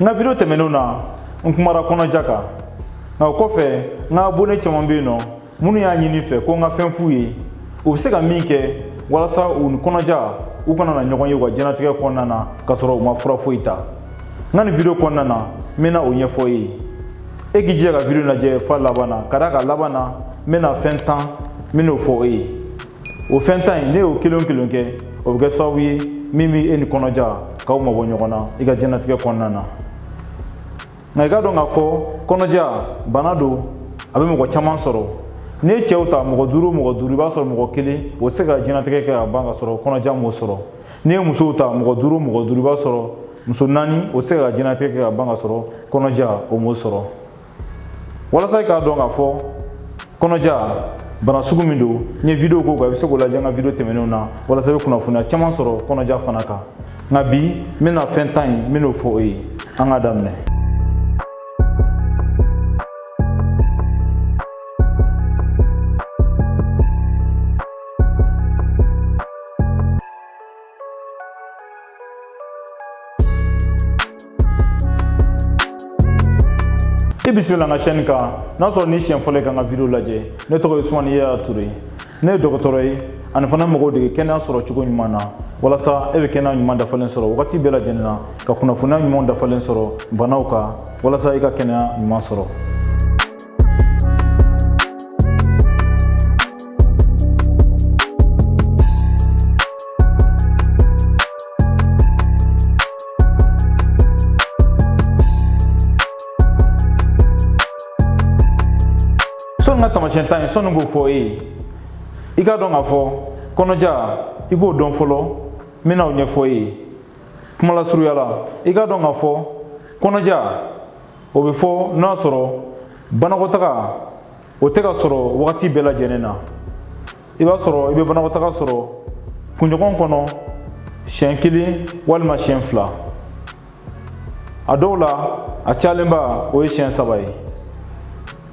n ka video tɛmɛnenw na n kumara kɔnɔja kan nka o kɔfɛ n ka abone caman bɛ yen nɔ minnu y'a ɲini fɛ ko n ka fɛn f'u ye u bɛ se ka min kɛ walasa u ni kɔnɔja u kana na ɲɔgɔn ye u ka jɛnatigɛ kɔnɔna na k'a sɔrɔ u ma fura foyi ta n ka nin video kɔnɔna na n bɛna o ɲɛfɔ e ye e k'i jija ka video lajɛ f'a laban na ka d'a kan laban na n bɛna fɛn tan n bɛn'o fɔ e ye o fɛn tan in n'i y'o kelen o kelen kɛ o bɛ kɛ sababu ye min bɛ e ni kɔnɔja k'aw mabɔ ɲɔgɔn na i ka jɛnatigɛ kɔnɔna na nka i k'a dɔn k'a fɔ kɔnɔja bana don a bɛ mɔgɔ caman sɔrɔ n'i ye cɛw ta mɔgɔ duuru mɔgɔ duuru i b'a sɔrɔ mɔgɔ kelen o tɛ se ka jɛnatigɛ kɛ ka ban k'a sɔrɔ kɔnɔja m'o sɔrɔ n'i ye musow ta mɔgɔ duuru mɔgɔ duuru i b'a sɔrɔ muso naani o tɛ se ka jɛnatigɛ kɛ ka ban k'a sɔrɔ kɔnɔja o m'o sɔrɔ walasa i k'a dɔn k'a fɔ kɔnɔja bana sugu min don n ye video k'o kan i bɛ se k'o lajɛ n ka video tɛmɛnenw na walasa i bɛ kunnafoniya caman sɔrɔ kɔnɔja fana kan nka bi n bɛna fɛn tan in n bɛn'o fɔ e ye an k'a daminɛ i bisimila n ka sɛni kan n'a sɔrɔ nin y'i siɲɛ fɔlɔ ye ka n ka video lajɛ ne tɔgɔ ye usumani yaya ture ne ye dɔgɔtɔrɔ ye ani fana mɔgɔw dege kɛnɛya sɔrɔ cogo ɲuman na walasa e bɛ kɛnɛya ɲuman dafalen sɔrɔ wagati bɛɛ lajɛlen na ka kunnafoniya ɲumanw dafalen sɔrɔ banaw kan walasa i ka kɛnɛya ɲuman sɔrɔ n ka taamasiyɛn tan in sɔnni k'o fɔ e ye i k'a dɔn k'a fɔ kɔnɔja i k'o dɔn fɔlɔ n bɛna o ɲɛfɔ e ye kumalasurunya la i k'a dɔn k'a fɔ kɔnɔja o bɛ fɔ n'a sɔrɔ banakɔtaga o tɛ ka sɔrɔ wagati bɛɛ lajɛlen na i b'a sɔrɔ i bɛ banakɔtaga sɔrɔ kunɲɔgɔn kɔnɔ siɲɛ kelen walima siɲɛ fila a dɔw la a cayalenba o ye siɲɛ saba ye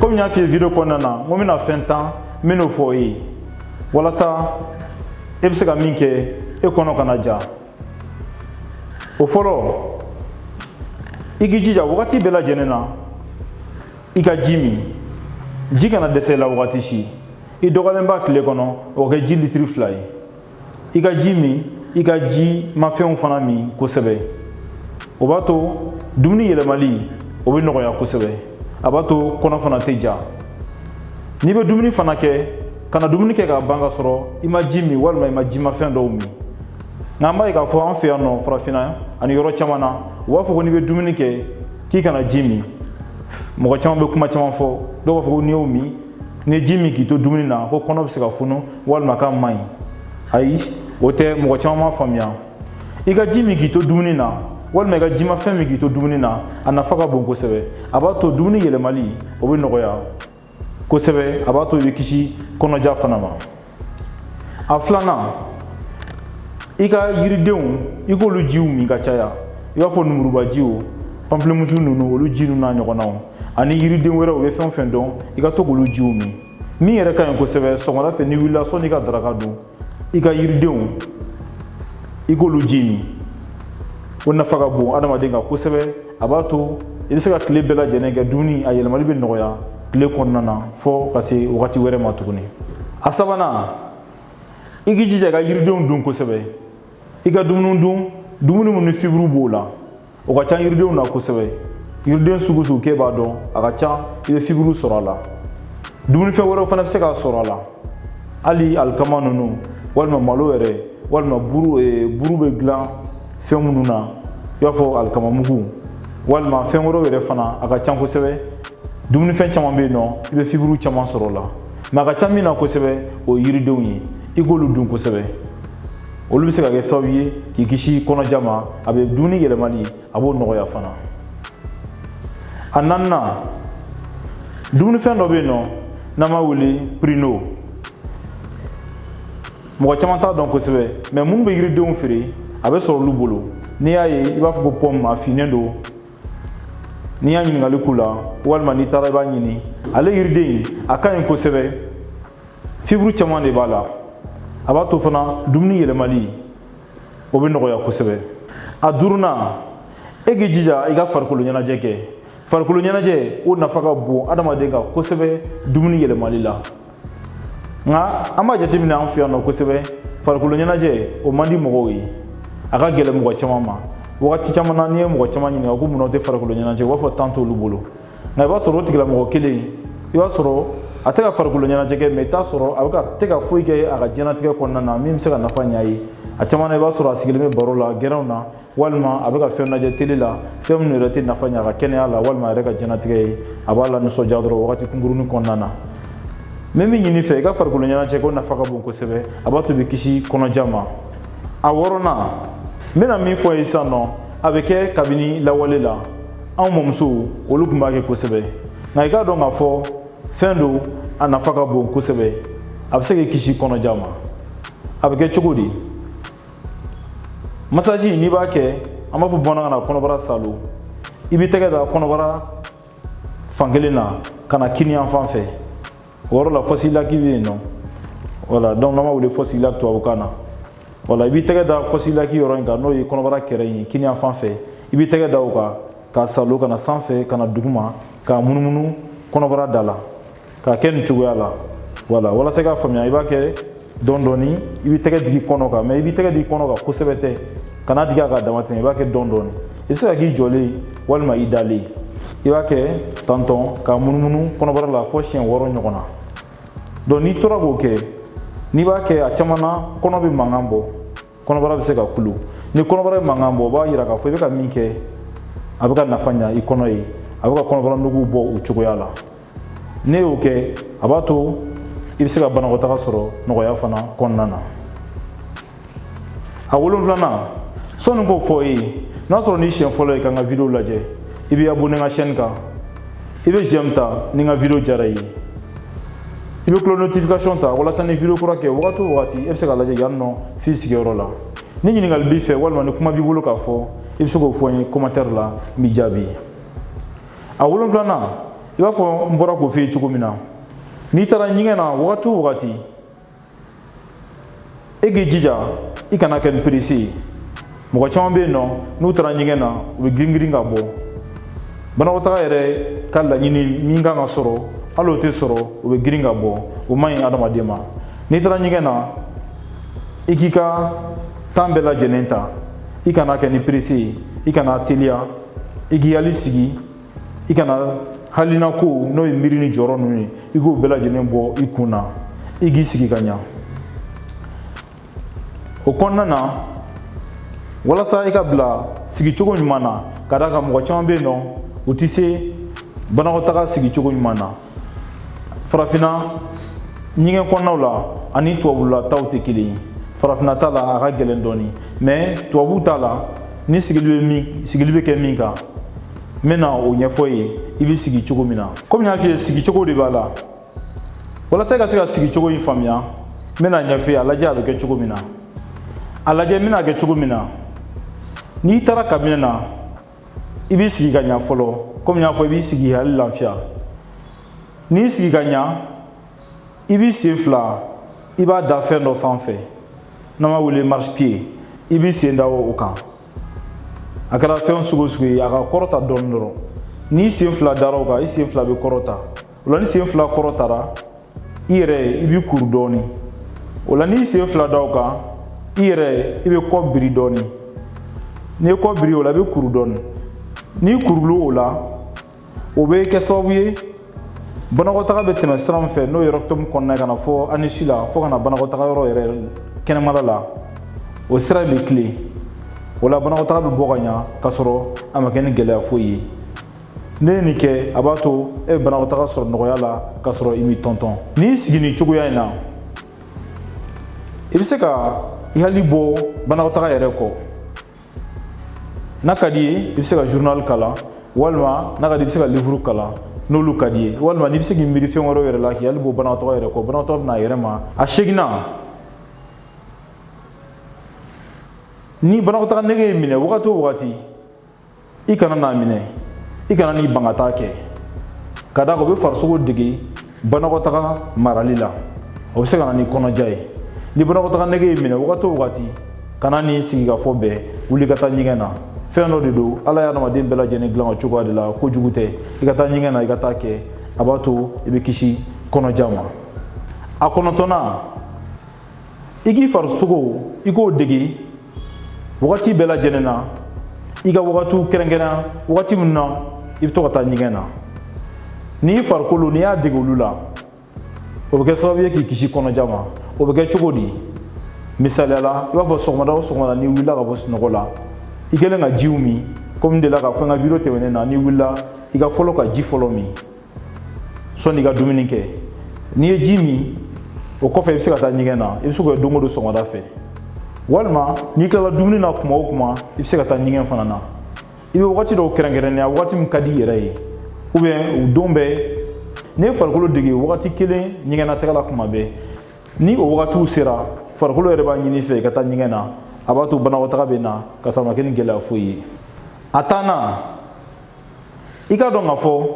komi n y'a f'i ye video kɔnɔna na n ko n bɛna fɛn tan n bɛn'o fɔ e ye walasa e bɛ se ka min kɛ e kɔnɔ kana ja o fɔlɔ i k'i jija wagati bɛɛ lajɛlen na i ka ji min ji kana dɛsɛ i la wagati si i dɔgɔyalenba tile kɔnɔ o ka kɛ ji litiri fila ye i ka ji min i ka jimafɛnw fana min kosɛbɛ o b'a to dumuni yɛlɛmali o bɛ nɔgɔya kosɛbɛ a b'a to kɔnɔ fana tɛ ja n'i bɛ dumuni fana kɛ kana dumuni kɛ ka ban ka sɔrɔ i ma ji min walima i ma jimafɛn dɔw min nka an b'a ye k'a fɔ an fɛ yan nɔ farafinna ani yɔrɔ caman na u b'a fɔ ko n'i bɛ dumuni kɛ k'i kana ji min mɔgɔ caman bɛ kuma caman fɔ dɔw b'a fɔ ko n'i y'o min n'i ye ji min k'i to dumuni na ko kɔnɔ bɛ se ka funu walima k'a man ɲi ayi o tɛ mɔgɔ caman m'a faamuya i ka ji min k'i to dumuni na walima i ka jimafɛn min k'i to dumuni na a nafa ka bon kosɛbɛ a b'a to dumuni yɛlɛmali o bɛ nɔgɔya kosɛbɛ a b'a to i bɛ kisi kɔnɔja fana ma a filanan i ka yiridenw i k'olu jiw min ka caya i b'a fɔ numurubajiw pamplemusu ninnu olu ji ninnu n'a ɲɔgɔnnaw ani yiriden wɛrɛw u bɛ fɛn o fɛn dɔn i ka to k'olu jiw min min yɛrɛ ka ɲi kosɛbɛ sɔgɔmada fɛ n'i wulila sɔnni i ka daraka dun i ka yiridenw i k'olu ji min o nafa ka bon adamaden kan kosɛbɛ a b'a to i bɛ se ka tile bɛɛ lajɛlen kɛ dumuni a yɛlɛmali bɛ nɔgɔya tile kɔnɔna na fo ka se wagati wɛrɛ ma tuguni a sabanan i k'i jija ka yiridenw dun kosɛbɛ i ka dumuni dun dumuni minnu ni fiburu b'o la o ka ca yiridenw na kosɛbɛ yiriden sugu sugu k'e b'a dɔn a ka ca i bɛ fiburu sɔrɔ a la dumunifɛn wɛrɛw fana bɛ se k'a sɔrɔ a la hali alikama ninnu walima malo yɛrɛ walima buru bɛ dilan fɛn minnu na i b'a fɔ alikama mugu walima fɛn wɛrɛw yɛrɛ fana a ka ca kosɛbɛ dumunifɛn caman bɛ yen nɔ i bɛ fiburu caman sɔrɔ o la mɛ a ka ca min na kosɛbɛ o ye yiridenw ye i k'olu dun kosɛbɛ olu bɛ se ka kɛ sababu ye k'i kisi kɔnɔja ma a bɛ dumuni yɛlɛmali a b'o nɔgɔya fana a naaninan dumunifɛn dɔ bɛ yen nɔ n'an b'a wele pirino mɔgɔ caman t'a dɔn kosɛbɛ mɛ minnu bɛ yiridenw feere a bɛ sɔrɔ olu bolo n'i y'a ye i b'a fɔ ko pɔmu a finnen don n'i y'a ɲininkali k'u la walima n'i taara i b'a ɲini ale yiriden a ka ɲi kosɛbɛ fiburu caman de b'a la a b'a to fana dumuni yɛlɛmali o bɛ nɔgɔya kosɛbɛ a duurunan e k'i jija i ka farikolo ɲɛnajɛ kɛ farikolo ɲɛnajɛ o nafa ka bon adamaden kan kosɛbɛ dumuni yɛlɛmali la nka an b'a jateminɛ an fɛ yan nɔ kosɛbɛ farikolo ɲɛnajɛ o man di mɔgɔw ye a ka gɛlɛn mɔgɔ caman ma wagati caman na n'i ye mɔgɔ caman ɲininka ko mun na u tɛ farikolo ɲɛnajɛ u b'a fɔ tan t'olu bolo nka i b'a sɔrɔ o tigilamɔgɔ kelen i b'a sɔrɔ a tɛ ka farikolo ɲɛnajɛ kɛ mais i t'a sɔrɔ a bɛ ka tɛ ka foyi kɛ a ka diɲɛnatigɛ kɔnɔna na min bɛ se ka nafa ɲ'a ye a caman na i b'a sɔrɔ a sigilen bɛ baro la gɛrɛnw na walima a bɛ ka fɛn lajɛ tele la fɛn minnu yɛrɛ tɛ nafa ɲa a ka kɛnɛya la walima a yɛrɛ ka diɲɛnatigɛ ye a b'a lanisɔndiya dɔrɔn wagati kunkurunin kɔnɔna na n bɛ min ɲini i fɛ i ka farikolo ɲɛnajɛ ko nafa ka bon kosɛbɛ a b'a to i bɛ kisi kɔnɔja ma a wɔɔrɔnan n bɛna min f'i ye sisan nɔ a bɛ kɛ kabini lawale la anw mɔmusow olu tun b'a kɛ kosɛbɛ nka i k'a dɔn k'a fɔ fɛn don a nafa ka bon kosɛbɛ a bɛ se k'i kisi kɔnɔja ma a bɛ kɛ cogo di masaji n'i b'a kɛ an b'a fɔ bamanankan na kɔnɔbara saalo i b'i tɛgɛ da kɔnɔbara fankelen na ka na kini yanfan fɛ o yɔrɔ la fosse iliaque bɛ yen nɔ voilà donc n'an b'a wele fosse iliaque tubabukan na voilà i b'i tɛgɛ da fosse iliaque yɔrɔ in kan n'o ye kɔnɔbara kɛrɛ in ye kini yanfan fɛ i b'i tɛgɛ da o kan k'a saalo ka na sanfɛ ka na duguma k'a munumunu kɔnɔbara da la k'a kɛ nin cogoya la voilà walasa i k'a faamuya i b'a kɛ dɔɔni dɔɔni i b'i tɛgɛ digi kɔnɔ kan mais i b'i tɛgɛ digi kɔnɔ kan kosɛbɛ tɛ kan'a digi a ka damatɛmɛ i b'a kɛ dɔɔni dɔɔni i bɛ se k'a k'i jɔlen walima i dalen i b'a kɛ tan dɔrɔn k'a munumunu kɔnɔbara la fo siɲɛ wɔɔrɔ ɲɔgɔn na donc n'i tora k'o kɛ n'i b'a kɛ a caman na kɔnɔ bɛ mankan bɔ kɔnɔbara bɛ se ka kulu ni kɔnɔbara bɛ mankan bɔ o b'a yira k'a fɔ i bɛ ka min kɛ a bɛ ka nafa ɲa i kɔnɔ ye a bɛ ka kɔnɔbara nugu bɔ o cogoya la n'i y'o kɛ a b'a to i bɛ se ka banakɔtaga sɔrɔ nɔgɔya fana kɔnɔna na a wolonfilanan sɔni n k'o fɔ i ye n'a sɔrɔ nin y'i siɲɛ fɔlɔ ye ka n ka video lajɛ i bɛ abonné n ka chaîne kan i bɛ j'aime ta ni n ka video diyara i ye i bɛ cloche notification ta walasa ni video kura kɛ wagati o wagati e bɛ se k'a lajɛ yan nɔ f'i sigiyɔrɔ la ni ɲininkali b'i fɛ walima ni kuma b'i bolo k'a fɔ i bɛ se k'o fɔ n ye commentaire la n b'i jaabi a wolonfilanan i b'a fɔ n bɔra k'o f'i ye cogo min na n'i taara ɲɛgɛn na wagati o wagati e k'i jija i kana kɛ ni pressé ye mɔgɔ caman bɛ yen nɔ n'u taara ɲɛgɛn na u bɛ girin girin ka bɔ banakɔtaga yɛrɛ ka laɲini min kan ka sɔrɔ hali o tɛ sɔrɔ u bɛ girin ka bɔ o man ɲi adamaden ma n'i taara ɲɛgɛn na i k'i ka temps bɛɛ lajɛlen ta i kana kɛ ni pressé ye i kana teliya i k'i hakili sigi i kana hakilina kow n'o ye miiri ni jɔrɔ ninnu ye i k'o bɛɛ lajɛlen bɔ i kun na i k'i sigi ka ɲa o kɔnɔna na walasa i ka bila sigicogo ɲuman na ka d'a kan mɔgɔ caman bɛ yen nɔ u tɛ se banakɔtaga sigicogo ɲuman na farafinna ɲɛgɛn kɔnɔnaw la ani tubabula taw tɛ kelen ye farafinna ta la a ka gɛlɛn dɔɔni mais tubabu ta la ni sigili bɛ kɛ min kan n bɛna o ɲɛfɔ ye i bɛ sigi cogo min na komi n y'a f'i ye sigi cogo de b'a la walasa i ka se ka sigi cogo in faamuya n bɛna ɲɛf'i ye a lajɛ a bɛ kɛ cogo min na a lajɛ n bɛna kɛ cogo min na n'i taara kabinɛ na i b'i sigi ka ɲa fɔlɔ komi n y'a fɔ i b'i sigi hakili lafiya n'i sigi ka ɲa i b'i sen fila i b'a da fɛn dɔ sanfɛ n'an b'a wele marche-pied i b'i sen da o kan a kɛra fɛn sugu o sugu ye a ka kɔrɔta dɔɔni dɔrɔn n'i sen fila dara o kan i sen fila bɛ kɔrɔta o la n'i sen fila kɔrɔtara i yɛrɛ i b'i kuru dɔɔni o la n'i sen fila da o kan i yɛrɛ i b'i kɔ biri dɔɔni n'i y'i kɔ biri o la i b'i kuru dɔɔni n'i kurula o la o bɛ kɛ sababu ye banakɔtaga bɛ tɛmɛ sira min fɛ n'o ye rectum kɔnɔna ye ka na fo anus la fo ka na banakɔtaga yɔrɔ yɛrɛ kɛnɛmala la o sira bɛ tilen o la banakɔtaga bɛ bɔ ka ɲa k'a sɔrɔ a ma kɛ ni gɛlɛya foyi ye n'i ye nin kɛ a b'a to e bɛ banakɔtaga sɔrɔ nɔgɔya la k'a sɔrɔ i m'i tɔntɔn n'i y'i sigi nin cogoya in na i bɛ se ka i hakili bɔ banakɔtaga yɛrɛ kɔ n'a ka d'i ye i bɛ se ka journal kalan walima n'a ka di i bɛ se ka livre kalan n'olu ka d'i ye walima n'i bɛ se k'i miiri fɛn wɛrɛw yɛrɛ la k'i hakili bɔ banakɔtaga yɛrɛ kɔ banakɔtaga bɛ na a yɛrɛ ma a seginnan ni banakɔtaga nege y'i minɛ wagati o wagati i kana n'a minɛ i kana n'i ban ka taa kɛ ka d'a kan o bɛ farisogo dege banakɔtaga marali la o bɛ se ka na ni kɔnɔja ye ni banakɔtaga nege y'i minɛ wagati o wagati kana n'i sigi ka fɔ bɛɛ wuli ka taa ɲɛgɛn na fɛn dɔ de don ala ye adamaden bɛɛ lajɛlen dilan o cogoya de la kojugu tɛ i ka taa ɲɛgɛn na i ka taa kɛ a b'a to i bɛ kisi kɔnɔja ma a kɔnɔntɔnnan i k'i farisogo i k'o dege wagati bɛɛ lajɛlen na i ka wagatiw kɛrɛnkɛrɛn wagati min na i bɛ to ka taa ɲɛgɛn na n'i farikolo n'i y'a dege olu la o bɛ kɛ sababu ye k'i kisi kɔnɔja ma o bɛ kɛ cogo di misaliya la i b'a fɔ sɔgɔmada o sɔgɔmada n'i wulila ka bɔ sunɔgɔ la i kɛlen ka jiw min komi n delila k'a fɔ n ka video tɛmɛnen na n'i wulila i ka fɔlɔ ka ji fɔlɔ min sɔnni i ka dumuni kɛ n'i ye ji min o kɔfɛ i bɛ se ka taa ɲɛgɛn na i bɛ se k'o kɛ don o don sɔgɔmada fɛ walima n'i tilala dumuni na kuma o kuma i bɛ se ka taa ɲɛgɛn fana na i bɛ wagati dɔw kɛrɛnkɛrɛnnenya wagati min ka di i yɛrɛ ye ou bien o don bɛɛ n'i ye farikolo dege wagati kelen ɲɛgɛnnataga la kuma bɛɛ ni o wagatiw sera farikolo yɛrɛ b'a ɲini i fɛ i ka taa ɲɛgɛn na a b'a to banakɔtaga bɛ na k'a sɔrɔ a ma kɛ ni gɛlɛya foyi ye a tannan i k'a dɔn k'a fɔ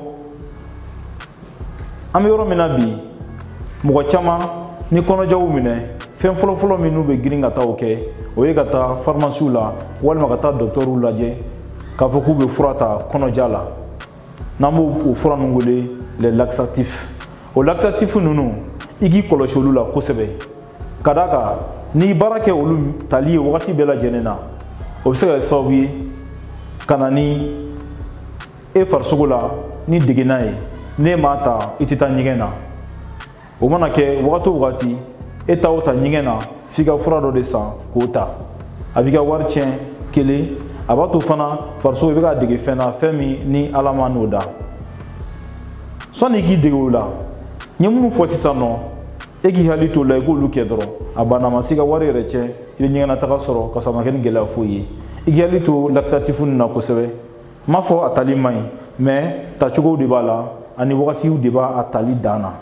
an bɛ yɔrɔ min na bi mɔgɔ caman ni kɔnɔja u minɛ fɛn fɔlɔfɔlɔ min n'u bɛ girin ka taa o kɛ o ye ka taa farimasiw la walima ka taa dɔgɔtɔrɔw lajɛ k'a fɔ k'u bɛ fura ta kɔnɔja la n'an b'o fura ninnu wele les laxatifs o laxatifs ninnu i k'i kɔlɔsi olu la kosɛbɛ ka d'a kan n'i baara kɛ olu tali ye wagati bɛɛ lajɛlen na o bɛ se ka kɛ sababu ye ka na ni e farisogo la ni degenna ye n'e m'a ta i tɛ taa ɲɛgɛn na o mana kɛ wagati o wagati e taa o taa ɲɛgɛn na f'i ka fura dɔ de san k'o ta a b'i ka wari tiɲɛ kelen a b'a to fana farisogo i bɛ k'a dege fɛn na fɛn min ni ala m'a n'o da sɔnni i k'i dege o la n ye minnu fɔ sisan nɔ e k'i hakili t'o la i k'olu kɛ dɔrɔn a banna ma se ka wari yɛrɛ tiɲɛ i bɛ ɲɛgɛnnataga sɔrɔ ka sɔrɔ a ma kɛ ni gɛlɛya foyi ye i k'i hakili to laxatif ninnu na kosɛbɛ n m'a fɔ a tali man ɲi mais tacogow de b'a la ani wagatiw de b'a tali dan na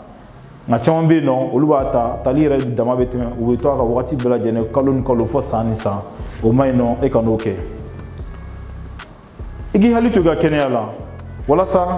nka caman bɛ yen nɔ olu b'a ta tali yɛrɛ dama bɛ tɛmɛ u bɛ to a kan wagati bɛɛ lajɛlen kalo ni kalo fɔ san ni san o man ɲi nɔ e kan'o kɛ i k'i hakili to i ka kɛnɛya la walasa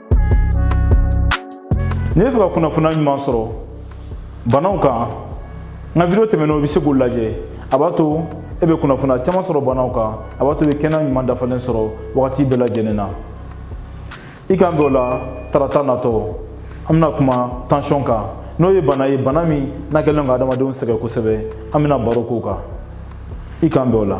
N'i bɛ fɛ ka kunnafoniya ɲuman sɔrɔ banaw kan n ka video tɛmɛnenw i bɛ se k'o lajɛ a b'a to e bɛ kunnafoniya caman sɔrɔ banaw kan a b'a to i bɛ kɛnɛya ɲuman dafalen sɔrɔ wagati bɛɛ lajɛlen na i k'an bɛn o la tarata natɔ an bɛna kuma tansiyɔn kan n'o ye bana ye bana min n'a kɛlen don ka adamadenw sɛgɛn kosɛbɛ an bɛna baro k'o kan i k'an bɛn o la